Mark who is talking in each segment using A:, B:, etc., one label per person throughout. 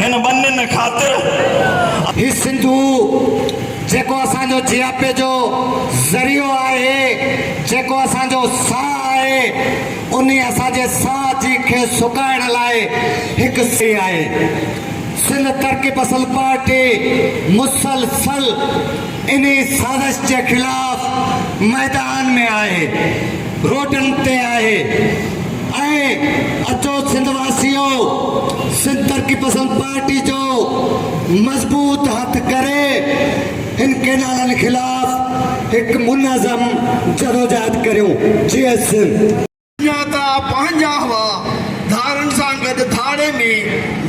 A: هن ٻنين خاطر. هي
B: سنڌو جيڪو اسان جو جياپي جو ذريعو آهي، جيڪو اسان جو ساهه آهي، انهي اسان جي ساهه جي کي سڪائڻ لاء هڪ سهي آهي. سنڌ ترقي پسند پارٽي مسلسل انهي سازش جي خلاف ميدان ۾ آهي. روڊن تي آهي ۽ اچو سنڌ واسيو سنڌ ترقي پسند پارٽي جو مضبوط هٿ ڪري هن ڪينالن خلاف هڪ منظم جدوجهد ڪريون جيئي سنڌ. جا ته
C: پنهنجا هئا ڌارن سان گڏ ڌاڙي ۾،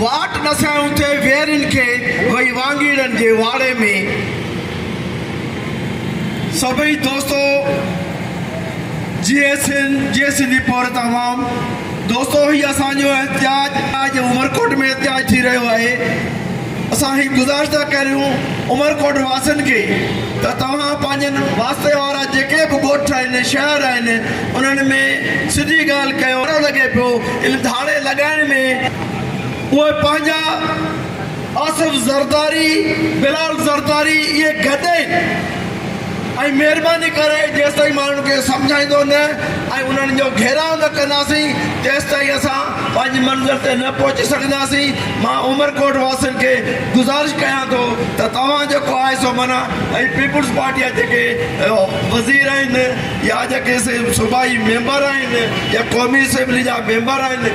C: واٽ ڏسايون ٿي ويرين کي وئي وانگيڙن جي واڙي ۾، سڀئي دوستو! جي سنڌ جي سنڌي پورهيت عوام دوستو هي اسان جو احتجاج اڄ عمرڪوٽ ۾ احتجاج ٿي رهيو آهي اسان هي گذارش ٿا ڪريون عمرڪوٽ واسين کي ته توهان پنهنجن واسطي وارا جيڪي به ڳوٺ آهن شهر آهن انهن ۾ سڌي ڳالهه ڪيو لڳي پيو ان ڌاڙي لڳائڻ ۾ اهي پنهنجا آصف زرداري، بلال زرداري اهي گڏ آهن ۽ مهرباني ڪري جيستائين ماڻهن کي سمجهائيندو نه ۽ انهن جو گهيراء نه ڪنداسين تيستائين اسان پنهنجي منزل تي نه پهچي سگهنداسين مان عمرڪوٽ واسين کي گذارش ڪيان ٿو ته توهان جيڪو آهي سو من ۽ پيپلز پارٽي جا جيڪي وزير آهن يا جيڪي صوبائي ميمبر آهن يا قومي اسيمبلي جا ميمبر آهن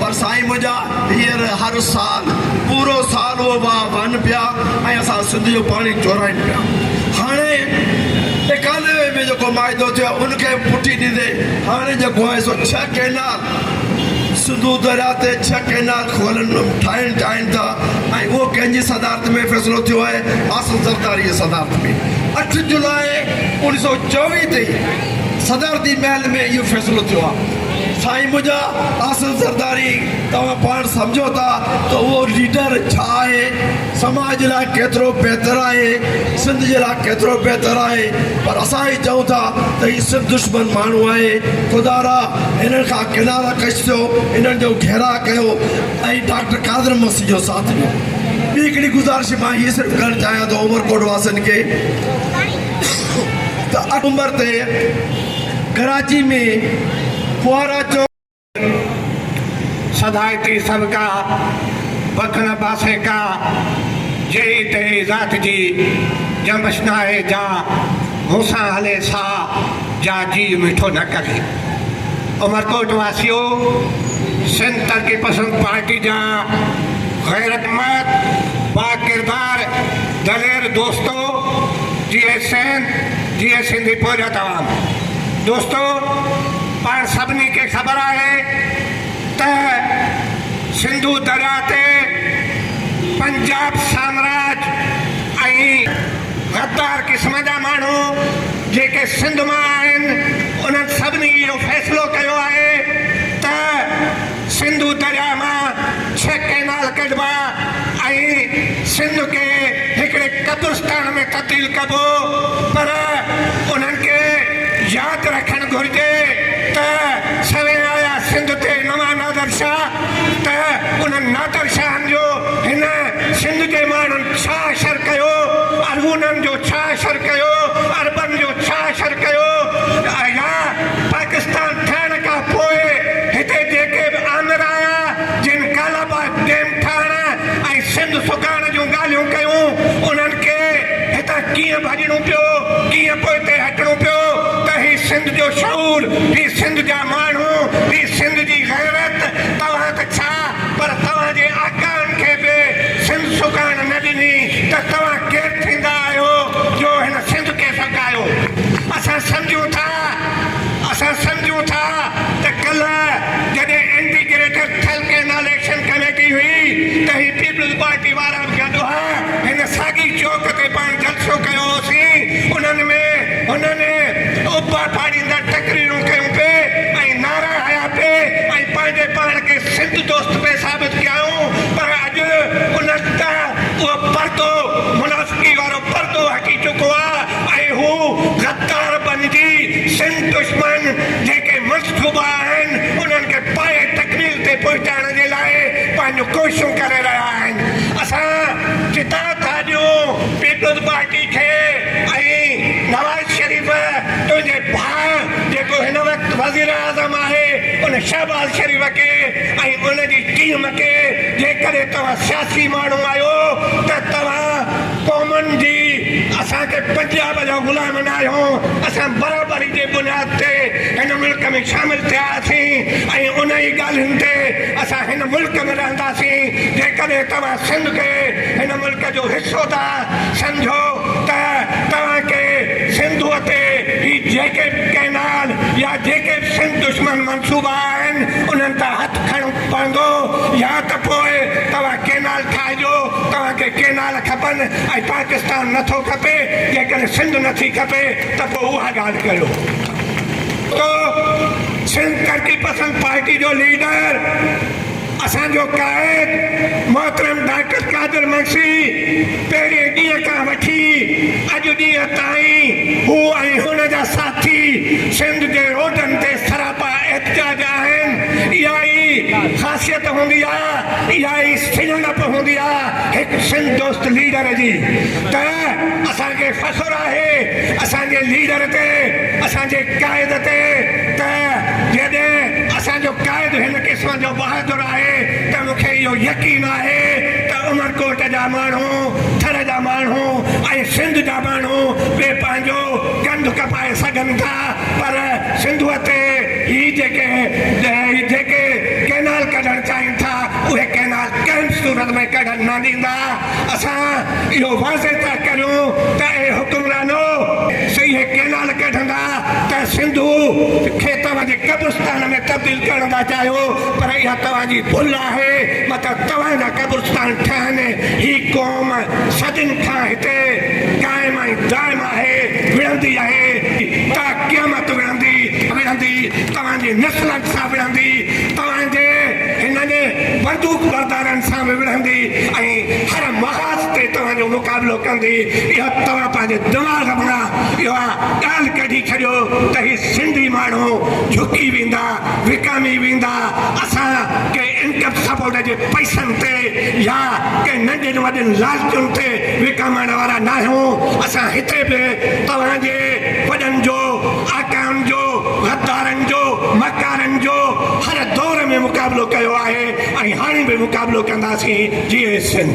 C: پر سائين منهنجا هيئر هر سال پورو سال اهو واهه وهن پيا ۽ اسان سنڌ جو پاڻي چورائين پيا هاڻي اڪانوي ۾ جيڪو معاهدو ٿيو آهي ان کي به پٺي ڏيندي هاڻي جيڪو آهي سو ڇهه ڪئنال سنڌو درياء تي ڇهه ڪئنال کولن ٺاهڻ چاهين ٿا ۽ اهو ڪنهن جي صدارت ۾ فيصلو ٿيو آهي آصف زرداري جي صدارت ۾ اٺ جولاء انيس سو چويهه تي صدارتي محل ۾ اهو فيصلو ٿيو آهي سائين منهنجا احسن زرداري توهان پاڻ سمجهو ٿا ته اهو ليڊر ڇا آهي سماج جي لاء ڪيترو بهتر آهي سنڌ جي لاء ڪيترو بهتر آهي پر اسان هي چئون ٿا ته هي سنڌ دشمن ماڻهو آهي خدا را هنن کان ڪنارا ڪش ٿيو هنن جو گهيراء ڪيو ۽ ڊاڪٽر قادر مسي جو ساٿ ڏيو ٻي هڪڙي گذارش مان هي صرف ڪرڻ چاهيان ٿو عمرڪوٽ واسين کي ته اٺ نمبر تي ڪراچي ۾ ڦوهارا چوڪ تي
B: سڌائتي سنڪا وکڻ پاسي ڪا جهڙي تهڙي ذات جي ڄمش ناهي جا مون سان هلي سا جا جيء مٺو نه ڪري. عمرڪوٽ واسيو، سنڌ ترقي پسند پارٽي جا غيرتمند، باڪردار، دلير دوستو جيئي سنڌ، جيئي سنڌي پوئجا توهان. دوستو پاڻ سڀني کي خبر آهي ته سنڌو درياء تي
D: پنجاب سامراج ۽ غدار قسم جا ماڻهو جيڪي سنڌ مان آهن انهن سڀني اهو فيصلو ڪيو آهي ته سنڌو درياء مان ڇهه ڪئنال ڪڍبا ۽ سنڌ کي هڪڙي قبرستان ۾ تبديل ڪبو پر انهن کي ياد رکڻ گهرجي ته سوين آيا سنڌ تي نوان نادر شاهه ته انهن نادر شاهن جو هن سنڌ جي ماڻهن ڇا شر ڪيو ارغونن جو ڇا شر ڪيو عربن جو ڇا شر ڪيو يا پاڪستان ٺهڻ کان پوء هتي جيڪي به آمر آيا، جن ڪالاباغ ڊيم ٺهڻ ۽ سنڌ سڪائڻ جون ڳالهيون ڪيون، انهن کي هتان ڪيئن ڀڄڻو پيو، ڪيئن پوئتي هٽڻو پيو ته هي سنڌ جو شعور، هي سنڌ جا ماڻهو، هي سنڌ جي غيرت، توهان ته ڇا پر توهان جي آقائن کي به سنڌ سڪائڻ نه ڏني ته توهان ڪير ٿيندا آهيو جو هن سنڌ کي سڪايو. اسان سمجهون ٿا اسان سمجهون ٿا ته ڪلهه جڏهن anti greater Thal canal action committee هئي ته هي پيپلز پارٽي وارا به گڏ هئا هن ساڳي چوڪ تي پاڻ جلسو ڪيو هوسين انهن ۾ هنن ابا پاڙيندڙ تقريرون ڪيون پي ۽ نعرا هنيا پي ۽ پنهنجي پاڻ کي سنڌ دوست پي ثابت ڪيائون پر اڄ انهن تان اهو پردو منافقي وارو پردو هٽي چڪو آ ۽ هو غدار بندي سنڌ دشمن جيڪي منصوبا آهن انهن کي پايي تڪميل تي پهچائڻ جي لاء پنهنجون ڪوششون ڪري رهيا آهن اسان جدا ٿا ڏيون پيپلز پارٽي کي ۽ نواز شريف تنهنجي ڀاء جيڪو هن وقت وزيراعظم آهي ان شهباز شريف کي ۽ ان جي ٽيم کي جيڪڏهن توهان سياسي ماڻهو آهيو ته توهان قومن جي اسان کي پنجاب جا غلام بنايو اسان برابري جي بنياد تي هن ملڪ ۾ شامل ٿياسين ۽ انهي ڳالهين تي اسان هن ملڪ ۾ رهنداسين جيڪڏهن توهان سنڌ کي هن ملڪ جو حصو ٿا سمجهو ته توهان کي سنڌو تي هي جيڪي به ڪئنال يا جيڪي به سنڌ دشمن منصوبا آهن انهن تان هٿ کڻڻ پوندو يا ته پوء توهان ڪينال ٺاهجو، توهان کي ڪينال کپن ۽ پاڪستان نه ٿو کپي، جيڪڏهن سنڌ نه ٿي کپي ته پوء اها ڳالهه ڪريو. تو سنڌ ترقي پسند پارٽي جو ليڊر، اسان جو قائد محترم ڊاڪٽر قادر منشي پهرين ڏينهن کان وٺي اڄ ڏينهن تائين هو ۽ هن جا ساٿي سنڌ جي روڊن تي سراپا ڪاپا احتجاج آهن، اها ئي خاصيت هوندي آ، اها ئي سڃاڻپ هوندي آ هڪ سنڌ دوست ليڊر جي ته اسان کي فخر آهي اسان جي ليڊر تي، اسان جي قائد تي ته جيڏهن اسان جو قائد هن قسم جو بهادر آهي ته مون کي اهو يقين آهي ته عمرڪوٽ جا ماڻهو، ٿر جا ماڻهو ۽ سنڌ جا ماڻهو به پنهنجو ڪنڌ ڪپائي سگهن ٿا. پر سنڌوء تي هي جيڪي جيڪي ڪئنال ڪڍڻ چاهين ٿا اهي ڪئنال ڪنهن به صورت ۾ ڪڍڻ نه ڏيندا اسان اهو واضح ٿا ڪريون ته اي حڪمرانو سي اهي ڪئنال ڪڍندا ته سنڌو کي توهان جي قبرستان ۾ تبديل ڪرڻ ٿا چاهيو پر اها توهان جي ڀل آهي مطلب توهان جا قبرستان ٺهن هي قوم صدين کان هتي قائم ۽ دائم آهي وڙهندي آهي ته قيامت وڙهندي وڙهندي توهان جي نسلن سان وڙهندي توهان جي هنن بندوق بردارن سان به وڙهندي ۽ هر محاذ تي توهان جو مقابلو ڪندي اها توهان پنهنجي دماغ مان اها ڳالهه ڪڍي ڇڏيو ته هي سنڌي ماڻهو جهڪي ويندا وڪامي ويندا اسان ڪنهن انڪم سپورٽ جي پئسن تي يا ڪنهن ننڍين وڏين لالچن تي وڪامڻ وارا ناهيون، اسان هتي به توهان جي وڏن جو، آقائن جو، غدارن جو، مڪارن جو هر دور ۾ مقابلو ڪيو آهي ۽ هاڻي به مقابلو ڪنداسين، جيئي سنڌ.